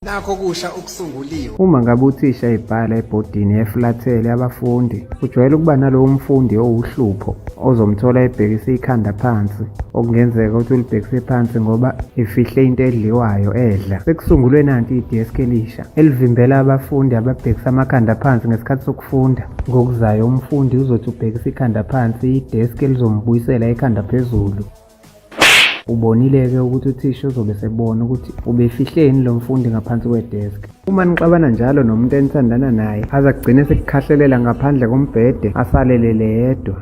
nakho kusha okusunguliwe. Uma ngabe uthisha ebhala ebhodini eflathele abafundi, kujwayele ukuba nalowo mfundi owuhlupho ozomthola ebhekise ikhanda phansi, okungenzeka ukuthi ulibhekise phansi ngoba ifihle into edliwayo edla. Sekusungulwe nanti i-desk elisha elivimbela abafundi ababhekisa amakhanda phansi ngesikhathi sokufunda. Ngokuzayo umfundi uzothi ubhekisa ikhanda phansi, i-desk elizombuyisela ikhanda phezulu. Ubonile-ke ukuthi uthisha uzobe sebona ukuthi ubefihleni lo mfundi ngaphansi kwedeski. Uma nixabana njalo nomuntu enithandana naye aze agcine sekukhahlelela ngaphandle kombhede asalelele yedwa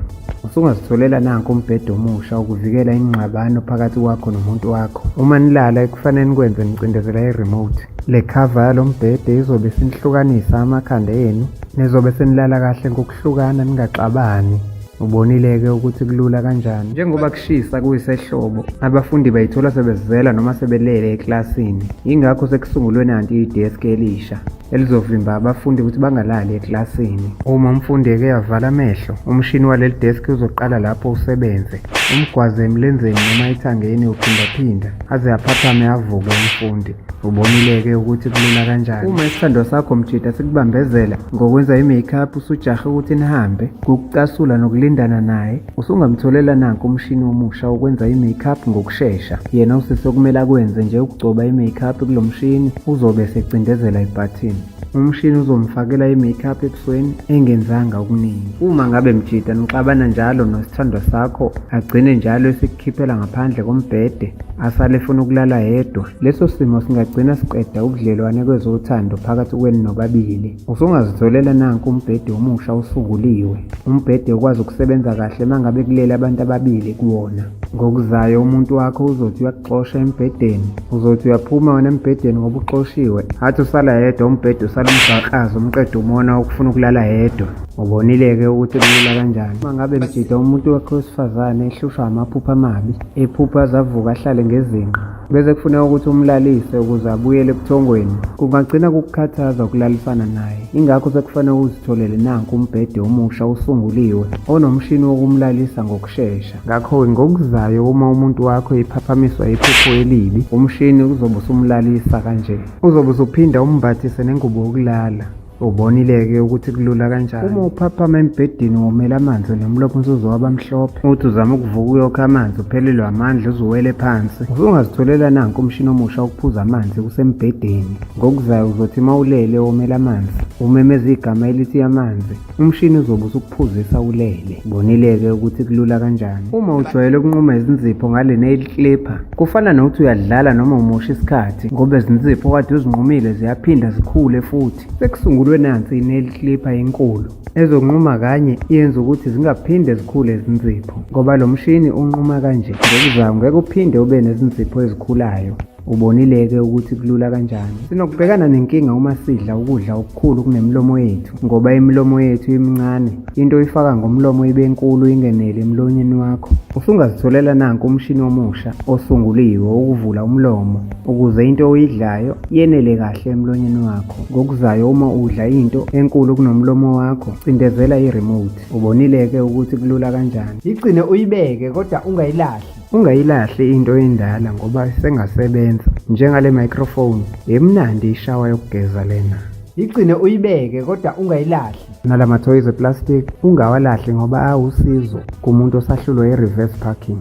usungazitholela nanko umbhede omusha ukuvikela ingxabano phakathi kwakho nomuntu wakho uma nilala ekufanele nikwenze nicindezela i-remote le khava yalo mbhede izobe sinihlukanisa amakhanda enu nizobe senilala kahle ngokuhlukana ningaxabani Ubonile-ke ukuthi kulula kanjani. Njengoba kushisa kuyisehlobo, abafundi bayithola sebezizela noma sebelele eklasini. Yingakho sekusungulwe nanti ideski elisha elizovimba abafundi ukuthi bangalali eklasini. Uma umfundi eke yavala amehlo, umshini waleli deski uzoqala lapho usebenze, umgwaze emlenzeni noma ethangeni uphindaphinda aze aphaphame avuke umfundi. Ubonile-ke ukuthi kulula kanjani uma isithandwa sakho mjida sikubambezela ngokwenza i-makeup usujahe ukuthi nihambe ngokucasula nokulindana naye usungamtholela nanku umshini omusha wokwenza i-makeup ngokushesha yena usise okumele akwenze nje ukugcoba i-makeup kulo mshini uzobe esecindezela ibhathini Umshini uzomfakela i-makeup ebusweni engenzanga okuningi. Uma ngabe mjita nixabana njalo nosithandwa sakho agcine njalo esikukhiphela ngaphandle kombhede asale efuna ukulala yedwa, leso simo singagcina siqeda ubudlelwane kwezothando phakathi kwenu nobabili. Usungazitholela nanku umbhede omusha osukuliwe, umbhede okwazi ukusebenza kahle mangabe kulele abantu ababili kuwona. Ngokuzayo umuntu wakho uzothi xosha embhedeni uzothi uyaphuma wena embhedeni ngoba uxoshiwe athi usala yedwa umbhede usala umgaqazi umqeda umona ukufuna ukulala yedwa ubonile-ke ukuthi kulula kanjani uma ngabe mjida umuntu wakhe wesifazane ehlushwa amaphupha amabi ephupha azavuka ahlale ngezinqa bese kufuneka ukuthi umlalise ukuze abuyele ebuthongweni kungagcina kukukhathaza ukulalisana naye ingakho sekufanele uzitholele nanku umbhede omusha usunguliwe onomshini wokumlalisa ngokushesha shesha ngakho-ke ngokuzayo uma umuntu wakho ephaphamiswa iphupho elibi umshini uzobe usumlalisa kanje uzobe usuphinda umbathise nengubo yokulala ubonile-ke ukuthi kulula kanjani uma uphaphama embhedeni womela amanzi nomlopha umsuzo wabamhlophe uthi uzama ukuvuka uyokha amanzi uphelelwe amandla uzuwele phansi usungazitholela nanku umshini omusha ukuphuza amanzi kusembhedeni ngokuzayo uzothi uma ulele womela amanzi umemeza igama elithi amanzi Umshini uzobe usukuphuzisa ulele. Bonile-ke ukuthi kulula kanjani. Uma ujwayele ukunquma izinzipho ngale nail clipper, kufana nokuthi uyadlala noma umosha isikhathi ngoba izinzipho kade uzinqumile ziyaphinda zikhule futhi. Sekusungulwe nansi i-nail clipper enkulu ezonquma kanye yenza ukuthi zingaphinde zikhule izinzipho ngoba lo mshini unquma kanje. Ngokuzama ngeke uphinde ube nezinzipho ezikhulayo. Ubonile-ke ukuthi kulula kanjani. Sinokubhekana nenkinga uma sidla ukudla okukhulu kunemilomo yethu ngoba imilomo yethu imincane. Into oyifaka ngomlomo ibe nkulu ingenele emlonyeni wakho. Usungazitholela nanku umshini omusha osunguliwe wokuvula umlomo ukuze into oyidlayo yenele kahle emlonyeni wakho. Ngokuzayo uma udla into enkulu kunomlomo wakho, cindezela i-remote. Ubonile-ke ukuthi kulula kanjani. Yigcine uyibeke kodwa ungayilahli. Ungayilahli into endala ngoba sengasebenza njengale microphone yemnandi ishawa yokugeza lena. Igcine uyibeke kodwa ungayilahli. Nala mathoyizi eplastic ungawalahli ngoba awusizo kumuntu osahlulwa i-reverse parking.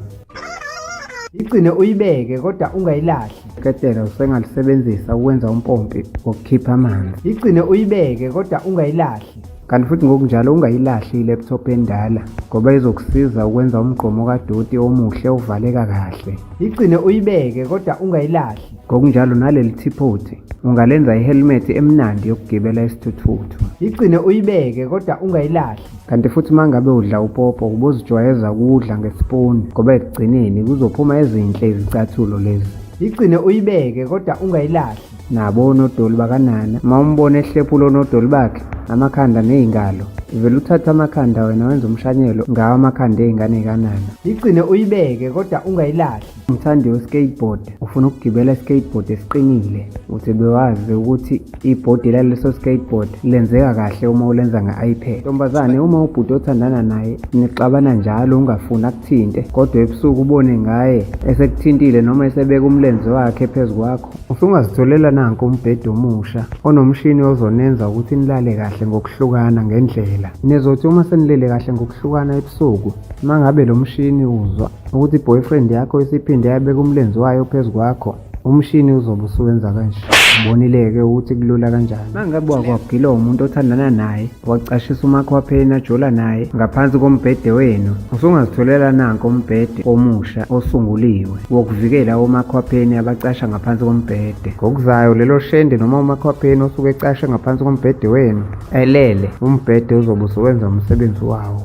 Igcine uyibeke kodwa ungayilahli. Ketela usengalisebenzisa ukwenza umpompi wokukhipha amanzi. Igcine uyibeke kodwa ungayilahli. Kanti futhi ngokunjalo ungayilahli i-laptop endala ngoba izokusiza ukwenza umgqomo kadoti omuhle ovaleka kahle. Igcine uyibeke kodwa ungayilahli. Ngokunjalo naleli thiphu uthi ungalenza i-helmet emnandi yokugibela isithuthuthu. Igcine uyibeke kodwa ungayilahli. Kanti futhi uma ngabe udla upopo ubozijwayeza ukudla ngesipuni ngoba ekugcineni kuzophuma ezinhle izicathulo lezi. Igcine uyibeke kodwa ungayilahli. nabo onodoli bakanana uma umbona ehlephula onodoli bakhe amakhanda nezingalo vele uthatha amakhanda wena wenza umshanyelo ngawo amakhanda ezingane kanana igcine uyibeke kodwa ungayilahli umthandi we-skateboard ufuna ukugibela i-skateboard esiqinile uthi bewazi ukuthi ibhodi laleso skateboard lenzeka kahle uma ulenza nge-ipad ntombazane uma ubhuti othandana naye nixabana njalo ungafuni thinte kodwa ebusuku ubone ngaye esekuthintile noma esebeka umlenze wakhe phezu kwakho usungazitholela nanku umbhede omusha onomshini ozonenza ukuthi nilale kahle ngokuhlukana ngendlela nizothi uma senilele kahle ngokuhlukana ebusuku mangabe lo mshini uzwa ukuthi boyfriend yakho isiphinde yabeka umlenze wayo phezu kwakho umshini uzobe usuwenza kanje ubonile-ke ukuthi kulula kanjani mangabe wakwagilwa umuntu othandana naye wacashisa umakwapheni ajola naye ngaphansi kombhede wenu usungazitholela nanko umbhede omusha osunguliwe wokuvikela omakwapheni abacasha ngaphansi kombhede ngokuzayo lelo shende noma umakwapheni osuke ecashe ngaphansi kombhede wenu elele umbhede uzobe usuwenza umsebenzi wawo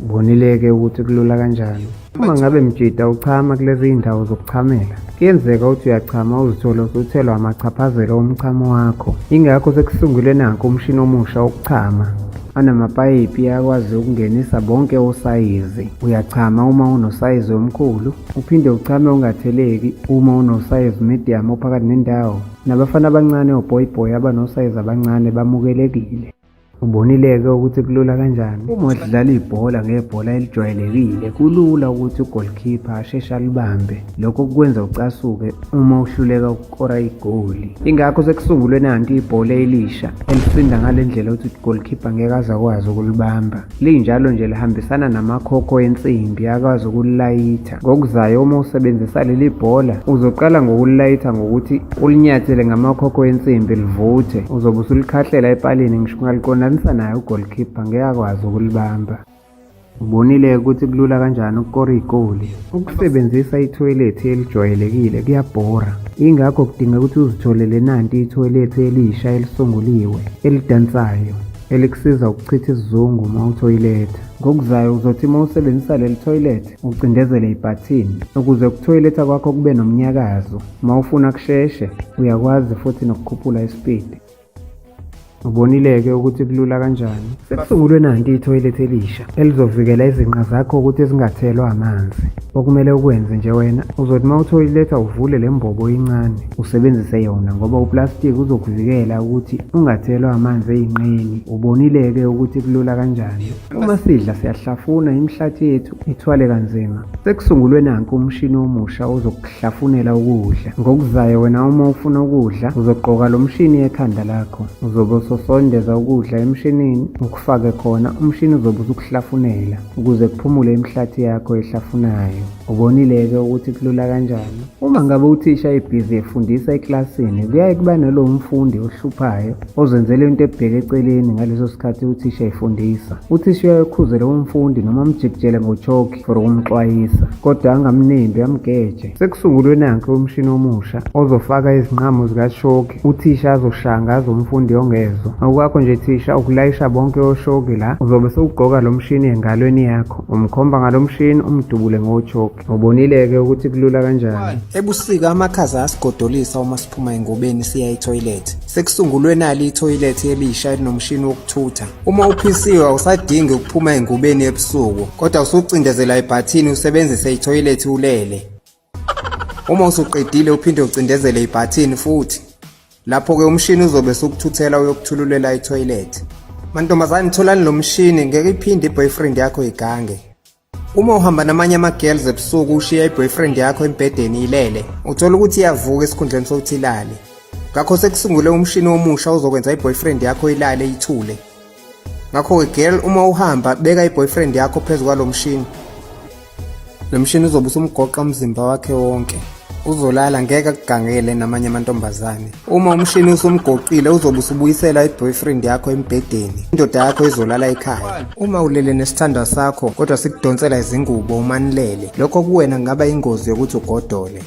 Bonile-ke ukuthi kulula kanjani. Uma ngabe mjita uchama kulezi iy'ndawo zokuchamela, kuyenzeka ukuthi uyachama uzithole usuthelwa amachaphazelo omchamo wakho. Yingakho sekusungulwe nakho umshini omusha wokuchama anamapayipi akwazi ukungenisa bonke osayizi. Uyachama uma unosayizi omkhulu, uphinde uchame ungatheleki uma unosayizi medium ophakathi nendawo. Nabafana abancane oboyboy abanosayizi abancane bamukelekile. Ubonile-ke ukuthi kulula kanjani. Uma udlala ibhola ngebhola elijwayelekile, kulula ukuthi ugolikhipha asheshe alibambe. Lokho kukwenza ucasuke uma uhluleka ukukora igoli. Ingakho sekusungulwe nanti ibhola elisha elisinda ngale ndlela ukuthi ugolikhipha ngeke aze akwazi ukulibamba. linjalo nje lihambisana namakhokho ensimbi akwazi ukulayitha ngokuzayo uma usebenzisa leli bhola uzoqala ngokulayitha ngokuthi ulinyathele ngamakhokho ensimbi livuthe uzobe usulikhahlela epalini ngisho ungaliqondanisa naye ugolkhipha ngeke akwazi ukulibamba ubonile ukuthi kulula kanjani ukukora igoli ukusebenzisa ithoyilethi elijwayelekile kuyabhora ingakho kudinga ukuthi uzitholele nanti ithoyilethi elisha elisunguliwe elidansayo elikusiza ukuchitha isizungu uma uthoyiletha. Ngokuzayo uzothi uma usebenzisa leli thoyilethe ucindezele ibhathini ukuze ukuthoyiletha kwakho kube nomnyakazo. Uma ufuna kusheshe uyakwazi futhi nokukhuphula isipidi. Ubonile-ke ukuthi kulula kanjani. Sekusungulwe nanti ithoyilethe elisha. elizovikela izinqa zakho ukuthi zingathelwa amanzi okumele ukwenze nje wena uzothi uma uthoyiletha uvule le mbobo incane usebenzise yona ngoba uplastiki uzokuvikela ukuthi ungathelwa amanzi eyinqeni ubonile-ke ukuthi kulula kanjani uma sidla siyahlafuna imihlathi yethu ithwale kanzima sekusungulwe nanku umshini omusha ozokuhlafunela ukudla ngokuzayo wena uma ufuna ukudla uzogqoka lo mshini ekhanda lakho uzobe usosondeza ukudla emshinini Fake khona umshini uzobe usukuhlafunela ukuze kuphumule imihlathi yakho ehlafunayo. Ubonile-ke ukuthi kulula kanjani? Uma ngabe uthisha ebhizi efundisa eklasini, kuyaye kuba nalowo mfundi ohluphayo ozenzela into ebheke eceleni ngaleso sikhathi uthisha efundisa. Uthisha uyaye ukhuze lowo mfundi noma umjikijele ngochokhi for ukumxwayisa kodwa angamnembi amgeje sekusungulwe nanke umshini omusha ozofaka izinqamo zikashoki uthisha azoshanga azomfundi ongezwa awukakho nje thisha ukulayisha bonke oshoki la uzobe sewugqoka lo mshini engalweni yakho umkhomba ngalo mshini umdubule ngotshoki ubonile-ke ukuthi kulula kanjani ebusika amakhaza asigodolisa uma siphuma engobeni siya ethoyilethi sekusungulwe nali ithoyilethi elisha elinomshini wokuthutha Uma uphisiwe awusadingi ukuphuma engubeni ebusuku kodwa usucindezela ibhathini usebenzise ithoyilethi ulele. Uma usuqedile uphinde ucindezele ibhathini futhi lapho-ke umshini uzobe sukuthuthela uyokuthululela ithoyilethi. Mantombazane tholani lo mshini ngeke iphinde i-boyfriend yakho igange. Uma uhamba namanye ama-girls ebusuku ushiya i-boyfriend yakho embhedeni ilele, uthola ukuthi iyavuka esikhundleni sokuthi ilale. Ngakho sekusungule umshini omusha ozokwenza i-boyfriend yakho ilale ithule. Ngakho-ke girl uma uhamba beka i-boyfriend yakho phezu kwalo mshini. Lo mshini uzobe usumgoqa umzimba wakhe wonke. uzolala ngeke akugangele namanye amantombazane uma umshini usumgoqile uzobe usubuyisela i-boyfriend yakho embhedeni indoda yakho izolala ekhaya uma ulele nesithandwa sakho kodwa sikudonsela izingubo umanilele lokho kuwena kungaba ingozi yokuthi ugodole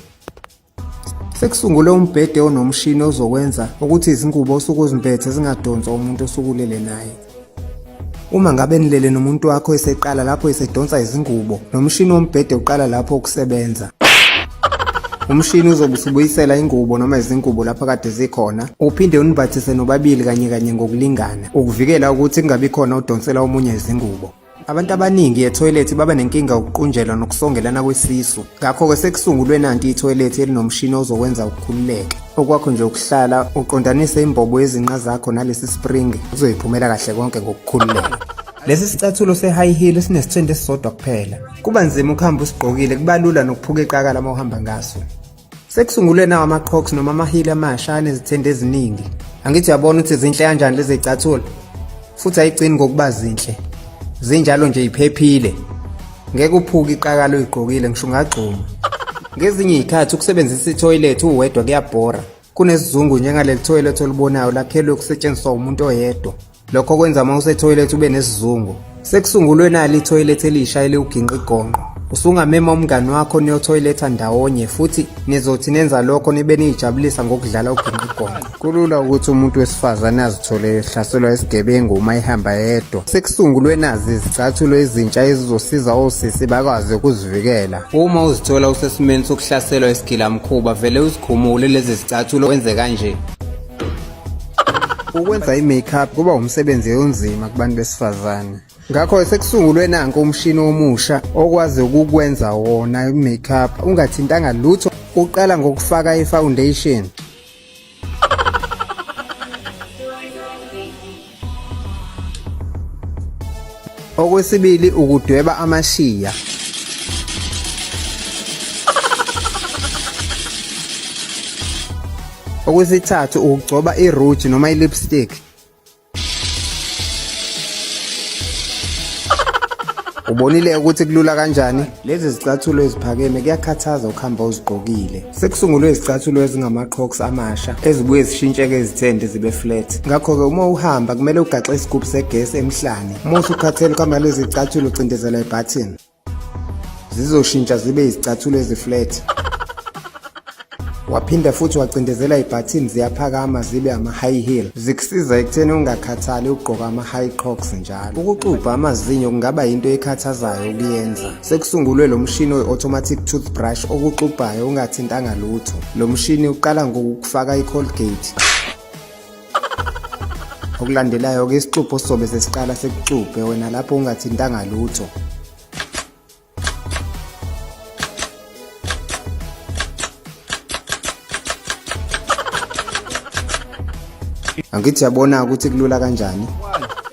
sekusungule umbhede onomshini ozokwenza ukuthi izingubo osuke uzimpethe zingadonswa umuntu osukulele naye Uma ngabe nilele nomuntu wakho eseqala lapho esedonsa izingubo, nomshini wombhede uqala lapho ukusebenza. Umshini uzobe usubuyisela ingubo noma izingubo lapho kade zikhona, uphinde unibhathise nobabili kanye kanye ngokulingana, ukuvikela ukuthi kungabi khona odonsela omunye izingubo. Abantu abaningi ethoyilethi baba nenkinga yokuqunjelwa nokusongelana kwesisu. Ngakho-ke sekusungulwe nanti ithoyilethi elinomshini ozokwenza ukukhululeke. Okwakho nje ukuhlala uqondanise imbobo yezinqa zakho nalesi spring uzoyiphumela kahle konke ngokukhululeka. Lesi sicathulo se-high heel sinesithende esisodwa kuphela. Kuba nzima ukuhamba usigqokile, kuba lula nokuphuka iqakala uma uhamba ngaso. Sekusungulwe nawo ama-crocs noma amahili amasha anezithende eziningi. Angithi uyabona ukuthi zinhle kanjani lezi zicathulo? Futhi ayigcini ngokuba zinhle. Zinjalo nje iphephile. Ngeke uphuke iqakala uyigqokile ngisho ungagxuma. Ngezinye izikhathi ukusebenzisa ithoyilethi uwedwa kuyabhora. Kunesizungu njengaleli thoyilethi olibonayo lakhelwe ukusetshenziswa umuntu oyedwa. lokho kwenza uma usethoyilethi ube nesizungu sekusungulwe nali ithoyilethi elisha eliwuginqa igonqo usungamema umngani wakho niyothoyiletha ndawonye futhi nizothi nenza lokho nibe niyijabulisa ngokudlala uginqa igonqo kulula ukuthi umuntu wesifazane azithole ehlaselwa isigebengu uma ehamba yedwa sekusungulwe nazi izicathulo ezintsha ezizosiza osisi bakwazi ukuzivikela uma uzithola usesimeni sokuhlaselwa isigilamkhuba vele uzikhumule lezi zicathulo wenze kanje Ukwenza i-makeup kuba umsebenzi onzima kubantu besifazane. Ngakho sekusungulwe nanko umshini omusha okwazi ukukwenza wona i-makeup ungathintanga lutho uqala ngokufaka i-foundation Okwesibili ukudweba amashiya. Okwesithathu ukugcoba i-rouge noma i-lipstick. Ubonile ukuthi kulula kanjani? Lezi zicathulo eziphakeme kuyakhathaza ukuhamba uzigqokile. Sekusungulwe izicathulo ezingama-crocs amasha ezibuye zishintsheke izithende zibe flat. Ngakho-ke uma uhamba kumele ugaxe isigubhu segesi emhlane. Uma usukhathele ukuhamba lezi zicathulo ucindezela ibhathini. Zizoshintsha zibe izicathulo eziflat. Waphinda futhi wacindezela ibhathini ziyaphakama zibe ama-high heel zikusiza ekutheni ungakhathali ukugqoka ama-high crocs njalo. Ukuxubha amazinyo kungaba yinto ekhathazayo ukuyenza. Sekusungulwe lo mshini oyi-automatic toothbrush okuxubhayo ungathintanga lutho. Lo mshini uqala ngokukufaka i-colgate okulandelayo-ke isixubho sizobe sesiqala sekuxubhe wena lapho ungathintanga lutho angithi yabona ukuthi kulula kanjani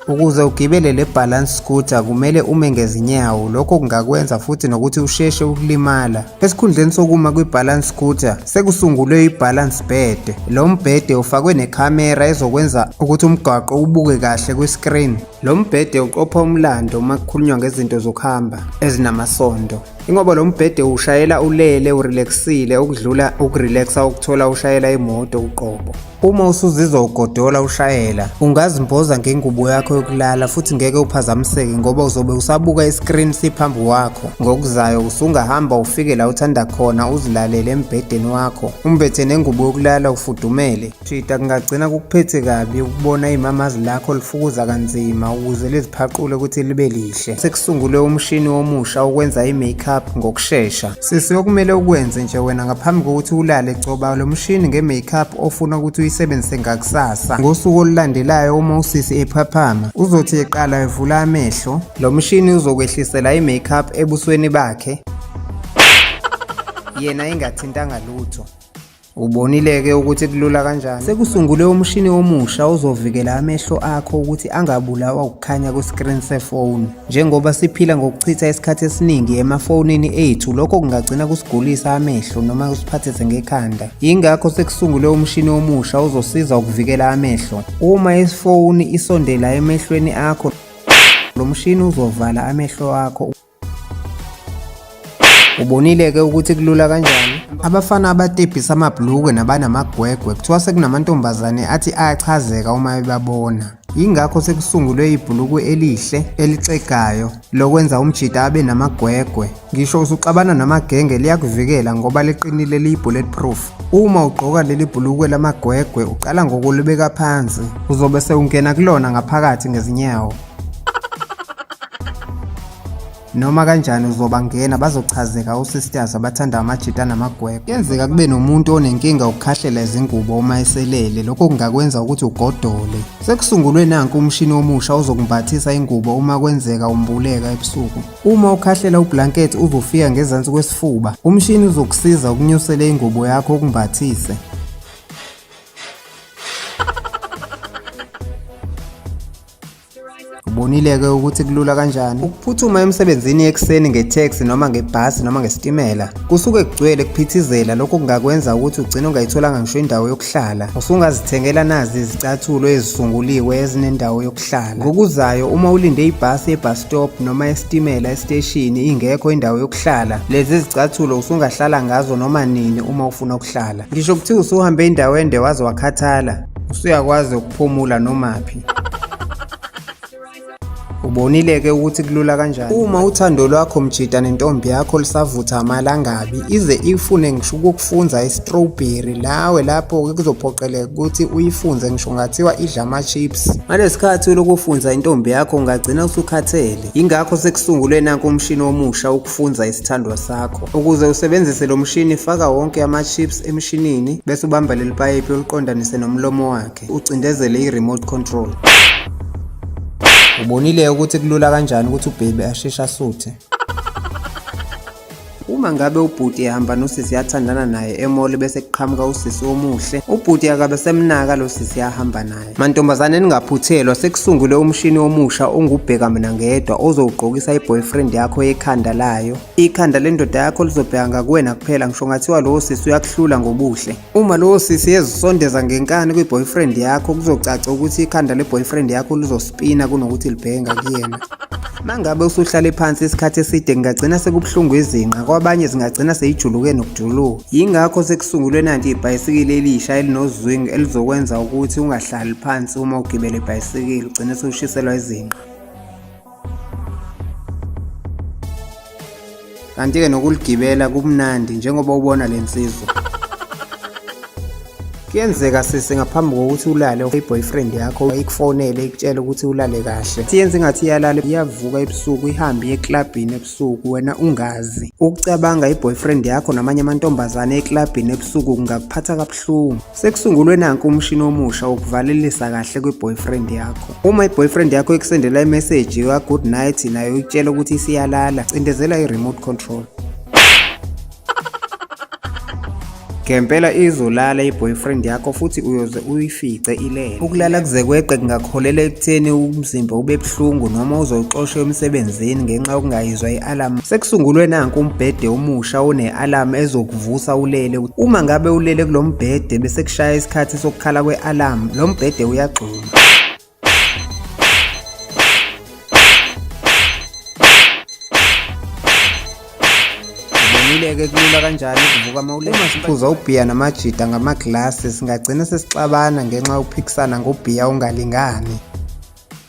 ukuze ugibele le balance scooter kumele ume ngezinyawo lokho kungakwenza futhi nokuthi usheshe ukulimala esikhundleni sokuma kwi-balance scooter sekusungulwe i-balance bed lo mbhede ufakwe nekhamera ezokwenza ukuthi umgwaqo ubuke kahle kwi-screen Lo mbhede uqopha umlando uma kukhulunywa ngezinto zokuhamba ezinamasondo. Ingoba lo mbhede ushayela ulele urelaxile okudlula ukurelaxa ukuthola ushayela imoto uqobo. Uma usuzizwa ugodola ushayela, ungazimboza ngengubo yakho yokulala futhi ngeke uphazamiseke ngoba uzobe usabuka iscreen siphambi wakho. Ngokuzayo usungahamba ufike la uthanda khona uzilalele embhedeni wakho, umbethe nengubo yokulala ufudumele. Jida kungagcina kukuphethe kabi ukubona imamazi lakho lifukuza kanzima ukuze liziphaqule ukuthi libe lihle. Sekusungulwe umshini omusha okwenza i-makeup ngokushesha. Sisi okumele ukwenze nje wena ngaphambi kokuthi ulale gcoba lo mshini nge-makeup ofuna ukuthi uyisebenzise ngakusasa. Ngosuku olulandelayo uma usisi ephaphama uzothi eqala evula amehlo. Lo mshini uzokwehlisela i-makeup ebusweni bakhe yena engathintanga lutho. Ubonile-ke ukuthi kulula kanjani. Sekusungule umshini omusha ozovikela amehlo akho ukuthi angabulawa ukukhanya kwesikrini sefoni. Njengoba siphila ngokuchitha isikhathi esiningi emafonini ethu, lokho kungagcina kusigulisa amehlo noma kusiphathise ngekhanda. Yingakho sekusungule umshini omusha ozosiza ukuvikela amehlo. Uma ifoni isondela emehlweni akho, lo mshini uzovala amehlo akho. Ubonile ke ukuthi kulula kanjani. Abafana abatebhisa amabhlukwe nabanamagwegwe kuthiwa sekunamantombazane athi ayachazeka uma ebabona. Yingakho sekusungulwe ibhulukwe elihle elixegayo lokwenza umjita abe namagwegwe. Ngisho usuxabana namagenge liyakuvikela ngoba liqinile liyi-bullet proof. Uma ugqoka leli bhulukwe lamagwegwe uqala ngokulibeka phansi, uzobe sewungena kulona ngaphakathi ngezinyawo. noma kanjani uzobangena bazochazeka osisters abathanda amajita namagwegwe kuyenzeka kube nomuntu onenkinga ukukhahlela izingubo uma eselele lokho kungakwenza ukuthi ugodole sekusungulwe nanku umshini omusha ozokumbathisa ingubo uma kwenzeka umbuleka ebusuku uma ukhahlela ublanket uzofika ngezansi kwesifuba umshini uzokusiza ukunyusela ingubo yakho ukumbathise Ubonile-ke ukuthi kulula kanjani ukuphuthuma emsebenzini ekuseni ngetheksi noma ngebhasi noma ngesitimela. Kusuke kugcwele kuphithizela lokho kungakwenza ukuthi ugcine ungayitholanga ngisho indawo yokuhlala. Usungazithengela nazi izicathulo ezisunguliwe ezinendawo yokuhlala. Ngokuzayo uma ulinde ibhasi ye-bus stop noma esitimela esiteshini ingekho indawo yokuhlala, lezi zicathulo usungahlala ngazo noma nini uma ufuna ukuhlala. Ngisho kuthiwa usuhambe indawo ende waze wakhathala, usuyakwazi Phumula nomaphi. Ubonile ke ukuthi kulula kanjani. Uma uthando lwakho mjita nentombi yakho lisavutha amalangabi ize ifune ngisho ukukufunza istrawberry lawe lapho ke kuzophoqeleka ukuthi uyifunze ngisho ngathiwa idla ama chips. Ngalesikhathi lokufunza intombi yakho ungagcina usukhathele. Ingakho sekusungulwe nanku umshini omusha Funza isithandwa sakho. Ukuze usebenzise lo mshini faka wonke ama-chips emshinini bese ubamba leli payipi oluqondanise nomlomo wakhe ucindezele i-remote control. Ubonile ukuthi kulula kanjani ukuthi ubhebe asheshe asuthe. Uma ngabe ubhuti ehamba nosisi yathandana naye emoli bese kuqhamuka usisi omuhle, ubhuti akabe semnaka lo sisi ahamba naye. Mantombazane ningaphuthelwa sekusungule umshini omusha ongubheka mina ngedwa ozowugqokisa iboyfriend yakho ekhanda layo. Ikhanda lendoda yakho lizobheka ngakuwena kuphela ngisho ngathiwa lowo sisi uyakuhlula ngobuhle. Uma lowo sisi ezisondeza ngenkani kwiboyfriend yakho kuzocaca ukuthi ikhanda leboyfriend yakho lizospina kunokuthi libheke ngakuyena. Mangabe usuhlale phansi isikhathi eside kungagcina sekubuhlungu izinqa kwabanye zingagcina seyijuluke nokujuluka. Yingakho sekusungulwe nanti ibhayisikili elisha elinozwingi elizokwenza ukuthi ungahlali phansi uma ugibele ibhayisikili ugcine sewushiselwa izinqa. kanti-ke nokuligibela kumnandi njengoba ubona le nsizwa kuyenzeka sisi ngaphambi kokuthi ulale i-boyfriend yakho ikufonele ikutshele ukuthi ulale kahle siyenze ngathi iyalala iyavuka ebusuku ihambe eklabhini ebusuku wena ungazi ukucabanga i-boyfriend yakho namanye amantombazane eklabhini ebusuku kungakuphatha kabuhlungu Sekusungulwe nanku umshini omusha wokuvalelisa kahle kwi-boyfriend yakho. Uma i-boyfriend yakho ikusendela i-message ya good night nayo ikutshela ukuthi isiyalala, cindezela i-remote control. Ngempela izolala i-boyfriend yakho futhi uyoze uyifice ilele. Ukulala kuze kweqe kungakuholela ekutheni umzimba ube buhlungu noma uzoxoshwa emsebenzini ngenxa yokungayizwa i-alarm. Sekusungulwe nanku umbhede omusha one-alarm ezoku vusa ulele uma ngabe ulele kulo mbhede bese kushaya isikhathi sokukhala kwe-alarm lo mbhede uyagxuma Ngileke kulula kanjani ukuvuka mawule uma siphuza ubhiya namajida ngamaglasi singagcina sesixabana ngenxa yokuphikisana ngobhiya ongalingani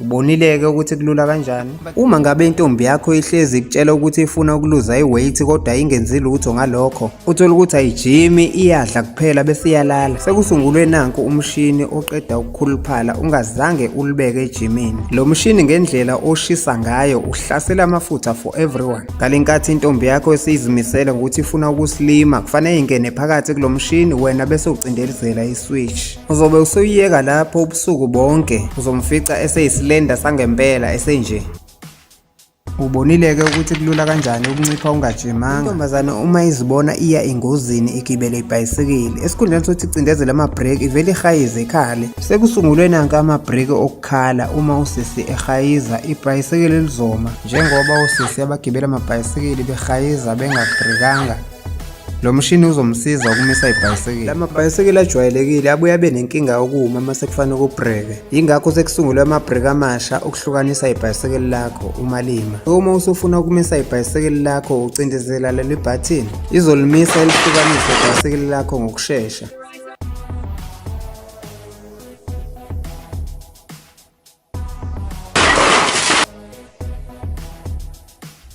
Ubonile-ke ukuthi kulula kanjani. Uma ngabe intombi yakho ihlezi ikutshela ukuthi ifuna ukuluza iweight kodwa ingenzi lutho ngalokho, uthola ukuthi ayijimi, iyadla kuphela bese iyalala. Sekusungulwe nanku umshini oqeda ukukhuluphala ungazange ulibeke ejimini. Lo mshini ngendlela oshisa ngayo uhlasela amafutha for everyone. Ngalenkathi intombi yakho esiyizimisele ngokuthi ifuna ukusilima, kufanele ingene phakathi kulo mshini wena bese ucindelizela iswitch. Uzobe usuyiyeka lapho ubusuku bonke, uzomfica eseyisilenda sangempela esenje. Ubonile-ke ukuthi kulula kanjani ukuncipha ungajimanga. Intombazane uma izibona iya engozini igibele ibhayisikili, esikhundleni sokuthi icindezele amabhreki ivele ihayize ikhale. Sekusungulwe nanka amabhreki okukhala uma usisi ehayiza ibhayisikili lizoma njengoba osisi abagibela amabhayisikili behayiza bengabhrekanga. Lo mshini uzomsiza ukumisa ibhayisekile. La mabhayisekile ajwayelekile abuye abe nenkinga yokuma uma sekufanele kubhreke. Yingakho sekusungulwe amabhreki amasha okuhlukanisa ibhayisekile lakho uma lima. Uma usufuna ukumisa ibhayisekile lakho ucindezela leli bhathini, izolimisa elihlukanise ibhayisekile lakho ngokushesha.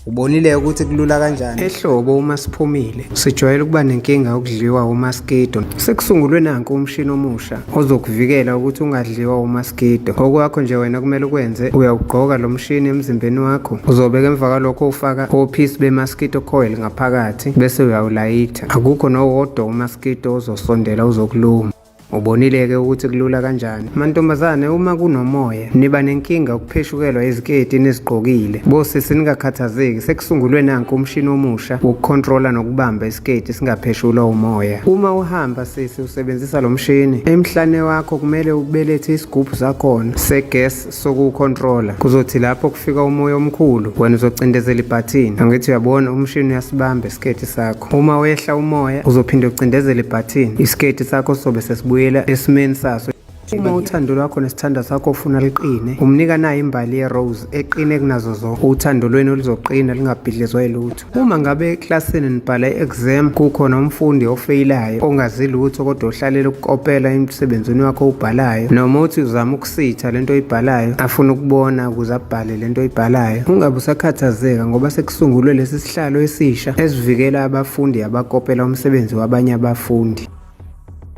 Ubonile ukuthi kulula kanjani. Ehlobo uma siphumile sijwayele ukuba nenkinga yokudliwa umaskido. Sekusungulwe nanku umshini omusha ozokuvikela ukuthi ungadliwa umaskido. Okwakho nje wena kumele ukwenze uyawugqoka lo mshini emzimbeni wakho. Uzobeka emva kwalokho ufaka ophisi bemaskido coil ngaphakathi bese uyawulayitha. Akukho nowodwa umaskido ozosondela uzokuluma. Ubonile-ke ukuthi kulula kanjani. Mantombazane uma kunomoya niba nenkinga ukupheshukelwa iziketi enizigqokile. Bosisi ningakhathazeki sekusungulwe nanku umshini omusha wokukhontrola nokubamba isiketi singapheshulwa umoya. Uma uhamba sisi usebenzisa lo mshini, emhlane wakho kumele ubelethe isigubhu sakhona se-gas sokuwukhontrola kuzothi lapho kufika umoya omkhulu wena uzocindezela ibhathini angithi uyabona umshini uyasibamba isiketi sakho uma wehla umoya uzophinde ucindezele ibhathini isiketi sakho sobe sesibuyela esimeni saso uma uthando lwakho nesithanda sakho ufuna liqine umnika nayo imbali yerose eqine kunazo zonke uthando lwenu luzoqina lingabhidlizwa yilutho Uma ngabe eklasini nibhala i-exam kukhona umfundi ofeyilayo ongazi lutho kodwa ohlalela ukukopela emsebenzini wakho owubhalayo noma uthi uzama ukusitha lento oyibhalayo afuna ukubona ukuze abhale lento oyibhalayo ungabe usakhathazeka ngoba sekusungulwe lesi sihlalo esisha esivikela abafundi abakopela umsebenzi wabanye abafundi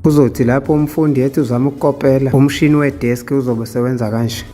kuzothi lapho umfundi ethi uzama ukukopela umshini wedeski uzobe sewenza kanje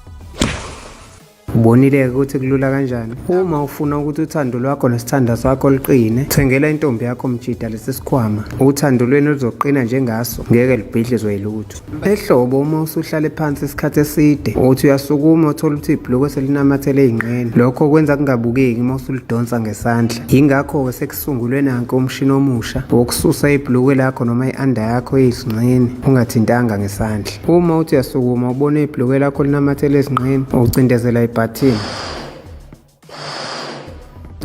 Ubonile-ke ukuthi kulula kanjani. Uma ufuna ukuthi uthando lwakho nesithanda sakho liqine, thengela intombi yakho mjida lesi sikhwama. Uthando lwenu luzoqina njengaso, ngeke lubhidlizwe yilutho. Ehlobo uma usuhlale phansi isikhathi eside, uthi uyasukuma uthola ukuthi ibhulukwe selinamathele ey'nqeni. Lokho kwenza kungabukeki uma usulidonsa ngesandla. Yingakho-ke Sungulwe nanke umshini omusha wokususa ibhulukwe lakho noma i-anda yakho eyizinqeni ungathintanga ngesandla. Uma uthi uyasukuma ubone ibhulukwe lakho linamathele ezinqeni, ucindezela ibhathini.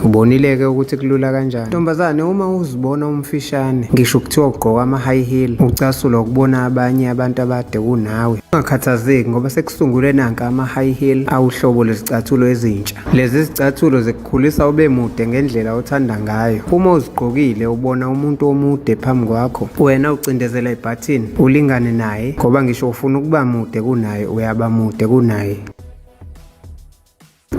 Ubonile-ke ukuthi kulula kanjani. Ntombazane uma uzibona umfishane, ngisho kuthiwa ugqoka ama-high heel, ucasulwa ukubona abanye abantu abade kunawe. Ungakhathazeki ngoba sekusungulwe nanka ama-high heel awuhlobo lwezicathulo ezintsha. Lezi zicathulo Khulisa ube mude ngendlela othanda ngayo. Uma uzigqokile ubona umuntu omude phambi kwakho, wena ucindezela ibhathini ulingane naye ngoba ngisho ufuna ukuba mude kunaye uyaba mude kunaye.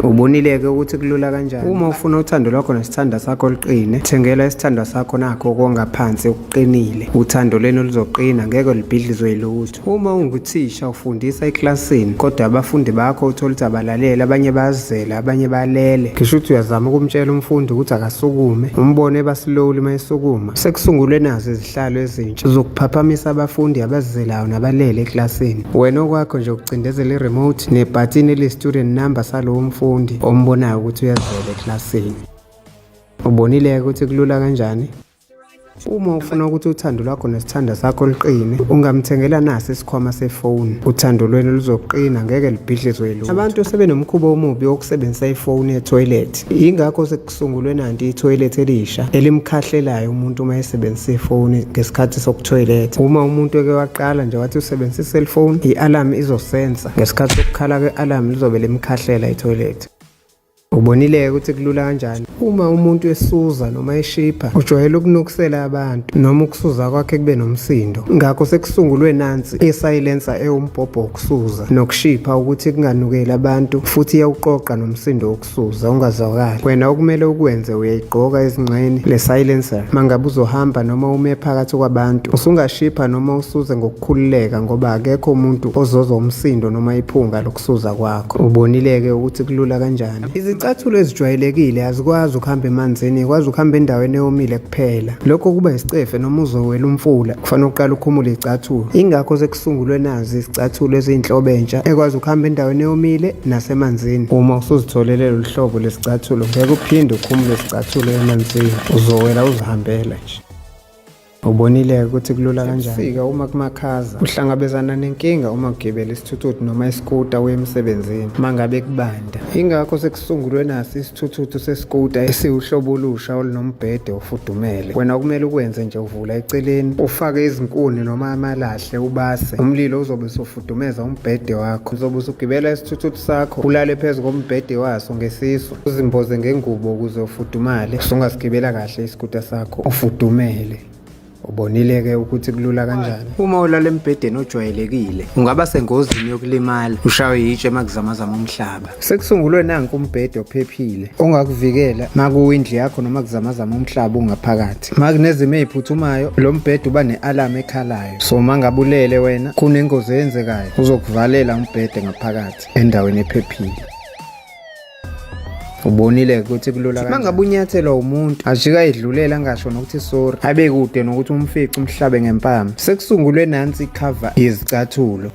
Ubonile-ke ukuthi kulula kanjani. Uma ufuna uthando lwakho nesithanda sakho luqine, thengela isithandwa sakho nakho okongaphansi okuqinile. Uthando lenu luzoqina, ngeke libhidlizwe yilutho. Uma unguthisha ufundisa eklasini kodwa abafundi bakho uthola ukuthi abalalele abanye bazela abanye balele ngisho ukuthi uyazama ukumtshela umfundi ukuthi akasukume umbone basilowuli uma esukuma sekusungulwe nazo izihlalo ezintsha zokuphaphamisa abafundi abazizelayo nabalele eklasini wena okwakho nje ukucindezela i-remote nebhathini eli-student number salowo mfundi ombonayo ukuthi uyazela eklasini ubonile-ke ukuthi kulula kanjani Uma ufuna ukuthi uthando lwakho nesithanda sakho liqine, ungamthengela nasi isikhwama sefoni. Uthando lwenu luzoqina, ngeke libhidlizwe yilutho. Abantu sebenomkhuba omubi wokusebenzisa ifoni ethoyilethi. Yingakho sekusungulwe nanti ithoyilethi elisha elimkhahlelayo umuntu uma esebenzisa ifoni ngesikhathi sokuthoyiletha. Uma umuntu eke waqala nje wathi usebenzisa iselfoni, i-alamu izosensa. Ngesikhathi sokukhala kwe-alamu lizobe limkhahlela ithoyilethi. Ubonile-ke ukuthi kulula kanjani uma umuntu esuza noma eshipha ujwayele ukunukusela abantu noma ukusuza kwakhe kube nomsindo ngakho sekusungulwe nansi isayilensa ewumbhobho wokusuza nokushipha ukuthi kunganukeli abantu futhi iyawuqoqa nomsindo wokusuza ungazwakali wena okumele ukwenze uyayigqoka ezingxeni le silencer mangabe uzohamba noma ume phakathi kwabantu usungashipha noma usuze ngoku khululeka ngoba akekho umuntu ozozwa umsindo noma iphunga lokusuza kwakho ubonile-ke ukuthi kulula kanjani izicathulo ezijwayelekile azikwazi ukuhamba emanzini ikwazi ukuhamba endaweni eyomile kuphela lokho kuba isicefe noma uzowela umfula kufanele uqala ukhumule izicathulo ingakho sekusungulwe nazi izicathulo eziyinhlobo entsha ekwazi ukuhamba endaweni eyomile nasemanzini uma usuzitholele lolu hlobo lezicathulo ngeke uphinde ukhumule izicathulo emanzini uzowela uzihambela nje Ubonile ukuthi kulula kanjani. Fika uma kumakhaza. Uhlangabezana nenkinga uma ugibela isithuthuthi noma iskuta uye emsebenzini. Mangabe kubanda. Ingakho sekusungulwe nasi isithuthuthi seskuta esiwuhlobo olusha olunombhede ofudumele. Wena kumele ukwenze nje uvula eceleni, ufake izinkuni noma amalahle ubase. Umlilo uzobe usufudumeza umbhede wakho. Uzobe usugibela isithuthuthi sakho, ulale phezu kombhede waso ngesisu. uzimboze ngengubo ukuze ufudumale usungasigibela kahle isikuta sakho ufudumele ubonile-ke ukuthi kulula kanjani uma ulala embhedeni ojwayelekile ungaba sengozini yokulimala ushawe yitshe makuzamazama umhlaba sekusungulwe nanku umbhede ophephile ongakuvikela makuwindli yakho noma kuzamazama umhlaba ungaphakathi makunezimo eziphuthumayo lo mbhede uba ne-alamu ekhalayo so mangabulele wena kunengozi eyenzekayo uzokuvalela umbhede ngaphakathi endaweni ephephile ubonile ukuthi kulula kanjani mangabe unyathelwa umuntu ajika edlulela angasho nokuthi sorry abe kude nokuthi umfice umhlabe ngempama sekusungulwe nansi icover yezicathulo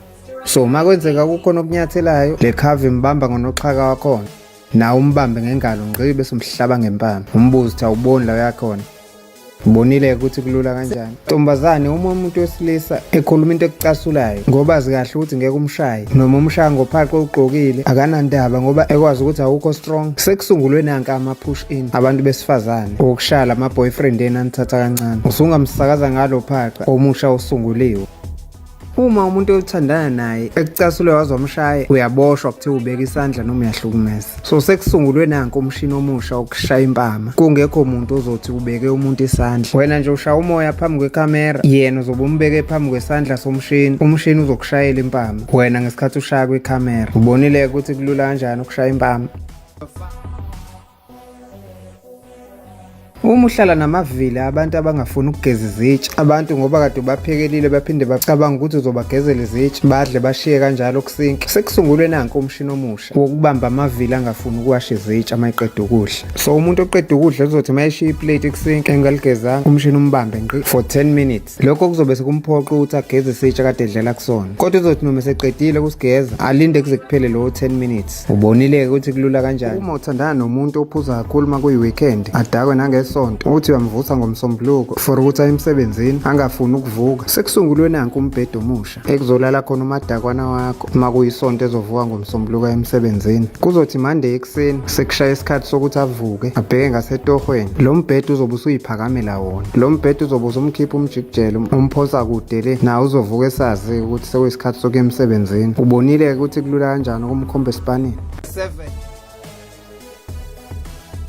so uma kwenzeka kukhona okunyathelayo le cover imbamba ngonoxhaka wakhona nawe umbambe ngengalo ngqibe somhlaba ngempama umbuzo ukuthi awuboni la uyakhona Bonile ukuthi kulula kanjani. Ntombazane uma umuntu wesilisa ekhuluma into ekucasulayo ngoba azikahle ukuthi ngeke umshaye noma umshaya ngophaqo ugqokile akanandaba ngoba ekwazi ukuthi awukho strong. Sekusungulwe nanka ama push in abantu besifazane okushala ama boyfriend enanithatha kancane. Usungamsakaza ngalo phaqa omusha osunguliwe. uma umuntu oyothandana naye ekucasule wazomshaya uyaboshwa kuthiwa ubeka isandla noma uyahlukumeza so sekusungulwe nanko umshini omusha wokushaya impama kungekho muntu ozothi ubeke umuntu isandla wena nje ushaya umoya phambi kwekhamera yena uzobe umbeke phambi kwesandla somshini umshini uzokushayela impama wena ngesikhathi ushaya kwekhamera ubonile ukuthi kulula kanjani ukushaya impama Uma uhlala namavila abantu abangafuni ukugeza izitsha abantu ngoba kade ubaphekelile baphinde bacabanga ukuthi uzobagezela izitsha badle bashiye kanjalo kusinki sekusungulwe nanke umshini omusha wokubamba amavila angafuni ukuwasha izitsha uma eqeda ukudla so umuntu oqeda ukudla uzothi uma eshiya iplate kusinki engaligezanga umshini umbambe ngqi for 10 minutes lokho kuzobe sekumphoqa ukuthi ageze isitsha kade edlela kusona kodwa uzothi noma eseqedile ukusigeza alinde kuze kuphele lowo 10 minutes ubonile-ke ukuthi kulula kanjani uma uthandana nomuntu ophuza kakhulu uma kuyi-weekend adakwe nangesonto uthi uyamvusa ngomsombuluko for ukuthi aye emsebenzini angafuni ukuvuka sekusungulwe nanku umbhede omusha ekuzolala khona umadakwana wakho uma kuyisonto ezovuka ngomsombuluka emsebenzini kuzothi mande ekuseni sekushaya isikhathi sokuthi avuke abheke ngasetohweni lo mbhede uzobe usuyiphakamela wona lo mbhede uzobe usumkhipha umjikijelo umphosa kude le nawe uzovuka esazi ukuthi sekuyisikhathi sokuya emsebenzini ubonile-ke ukuthi kulula kanjani ukumkhomba esipanini 7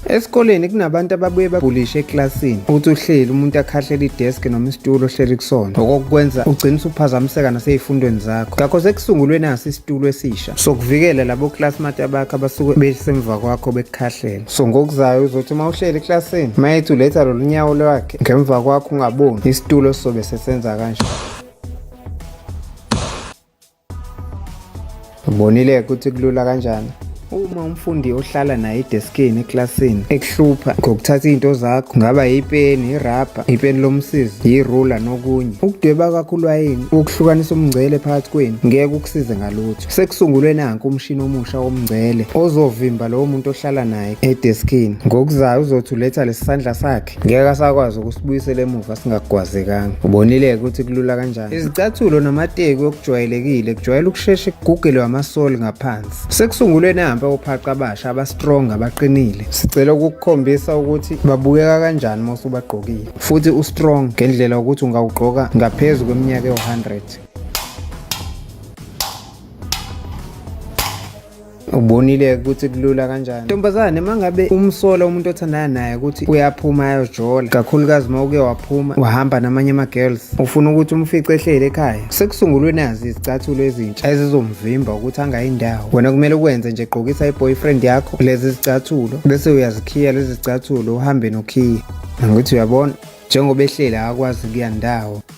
Esikoleni kunabantu ababuye babhulishe eklasini ukuthi uhleli umuntu akhahlela idesk noma isitulo ohleli kusona okokwenza ugcina usuphazamiseka naseyifundweni zakho ngakho sekusungulwe nasi isitulo esisha sokuvikela labo classmate abakho abasuke besemva kwakho bekukhahlela so ngokuzayo uzothi uma uhleli eklasini mayethi uletha lolu nyawo lwakhe ngemva kwakho ungaboni isitulo sizobe sesenza kanje Ubonile ukuthi kulula kanjani uma umfundi ohlala naye edeskini eklasini ekuhlupha ngokuthatha izinto zakho kungaba yipeni irabha ipeni lomsizi yirula nokunye ukudweba kwakho ulwayini ukuhlukanisa umngcele phakathi kwenu ngeke ukusize ngalutho sekusungulwe nanku umshini omusha womngcele ozovimba lowo muntu ohlala naye edeskini ngokuzayo uzothi uletha lesisandla sakhe ngeke asakwazi ukusibuyisela emuva singagwazekanga ubonile-ke ukuthi kulula kanjani izicathulo namateki okujwayelekile kujwayele ukushesha ekugugelwe amasoli ngaphansi sekusungulwe nahambe ophaqa abasha abastrong abaqinile sicela ukukukhombisa ukuthi babukeka kanjani uma usubagqokile futhi ustrong ngendlela ukuthi ungawugqoka ngaphezu kweminyaka ewu-100 ubonile ukuthi kulula kanjani ntombazane mangabe umsola umuntu othandana naye ukuthi uyaphuma ayojola kakhulukazi uma uke waphuma wahamba namanye ama-girls ufuna ukuthi umfice ehleli ekhaya sekusungulwe nazi izicathulo ezintsha ezizomvimba ukuthi angayindawo wena kumele ukwenze nje gqokisa i-boyfriend yakho lezi zicathulo bese uyazikhiya lezi zicathulo uhambe nokhiya ngokuthi uyabona njengoba ehleli akakwazi kuya ndawo